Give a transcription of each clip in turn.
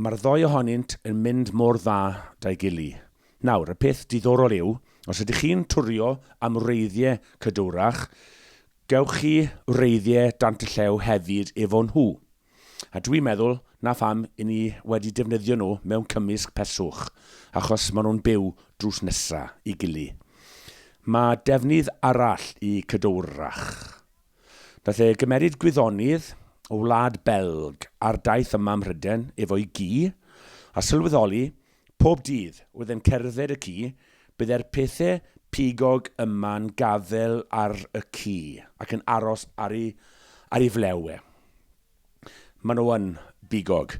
Mae'r ddou ohonynt yn mynd mor dda 'da'i gily. Nawr, y peth diddorol yw, os ydych chi'n twrio am wreiddiau cadwrach, gewch chi wreiddiau dant y llew hefyd efo nhw. A dwi'n meddwl 'na pham i ni wedi defnyddio nhw mewn cymysg peswch, achos maen nhw'n byw drws nesa' i gily. Mae defnydd arall i cadwrach. Daeth e gymeryd gwyddonydd o wlad Belg ar daith yma ym Mhryden efo'i gi, a sylweddoli, pob dydd oedd e'n cerdded y ci, bydd e'r pethe pigog yma'n gafel ar y ci, ac yn aros ar ei ar ei flew e. Maen nhw yn bigog.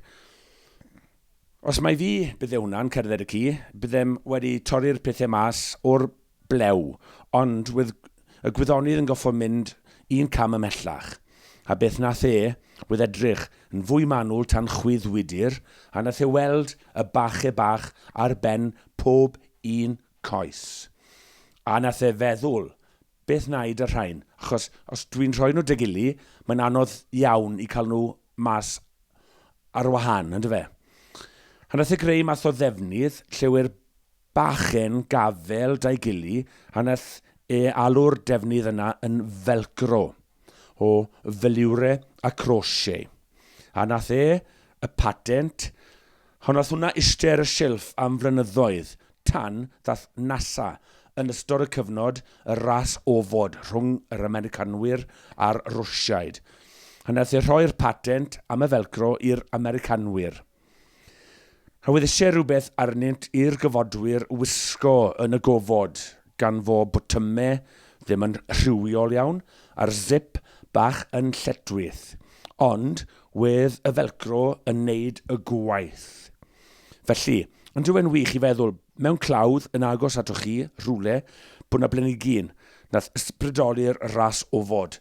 Os mai fi bydde hwnna'n cerdded y ci, byddem wedi torri'r pethe mas o'r blew, ond wedd y gwyddonydd yn goffo mynd un cam ymhellach, a beth nath e, wedd edrych yn fwy manwl tan chwydd wydr, a nath e weld y bache bach ar ben pob un coes. A nath e feddwl, beth naid â rhain, achos os dwi'n rhoi nhw degili, mae'n anodd iawn i cael nhw mas ar wahan, yndyfe? A nath e greu math o ddefnydd, lle wêr Bachgen gafael da'i gili a nath e alw'r defnydd yna yn Velcro o velure a crochet. A nath e y patent hon nath hwnna iste ar y silff am flynyddoedd tan ddath NASA yn ystod y cyfnod y ras ofod rhwng yr Americanwyr a'r Rwsiaid a nath e rhoi'r patent am y Velcro i'r Americanwyr. A weddise rhywbeth arnynt i'r gyfodwyr wisgo yn y gofod, gan fo botymau ddim yn rhywiol iawn, a'r zip bach yn lletwith. Ond, wedd y felcro yn neud y gwaith. Felly, ond yw e'n wych i feddwl, mewn clawdd yn agos atoch chi, rhywle, bo' 'na blanigyn, nath ysbrydoli'r ras ofod,